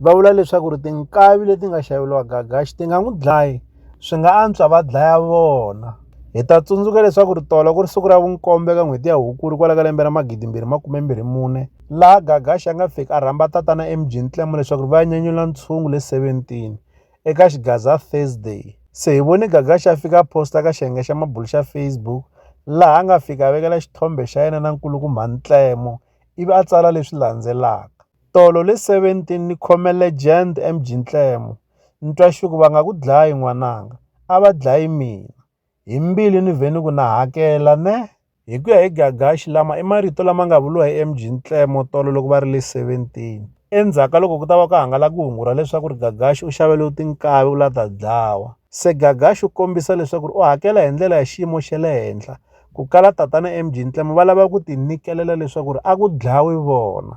va vula leswaku ri tinkavi leti nga xaveriwa gagaxi ti nga n'wi dlayi swi nga antswa va dlaya vona hi ta tsundzuka leswaku ri tolo ku ri siku ra vunkombe ka n'hweti ya hukuri kwala ka lembe ra magidimbirhi makumembirhi mune laha gagaxi a nga fiki a rhamba tatana emjini tlemo leswaku ri va ya nyanyula ntshungu le 17 eka xigaza thursday se hi vone gagaxi a fika a posta ka xiyenge xa mabulu xa facebook laha a nga fika a vekela xithombe xa yena na nkulukumba ntlemo ivi a tsala leswi landzelaka Tolo le 17 ni khome legend MG Ntlemo Ntwaxuku va nga ku dlayi n'wananga a va dlayi mina hi mbilu ni vhe ni ku na hakela ne Hi ku ya hi Gagashi lama i marito lama nga vuriwa hi MG Ntlemo Tolo loko va ri le 17 endzhaku ka loko ku ta va ku hangalake hungu ra leswaku ri Gagashi u xaveliwe tinkavi u la ta dlawa se Gagashi u kombisa leswaku ri u hakela hi ndlela ya xiyimo xa le henhla ku kala tatana MG Ntlemo va lava ku tinyikelela leswaku ri a ku dlawi vona.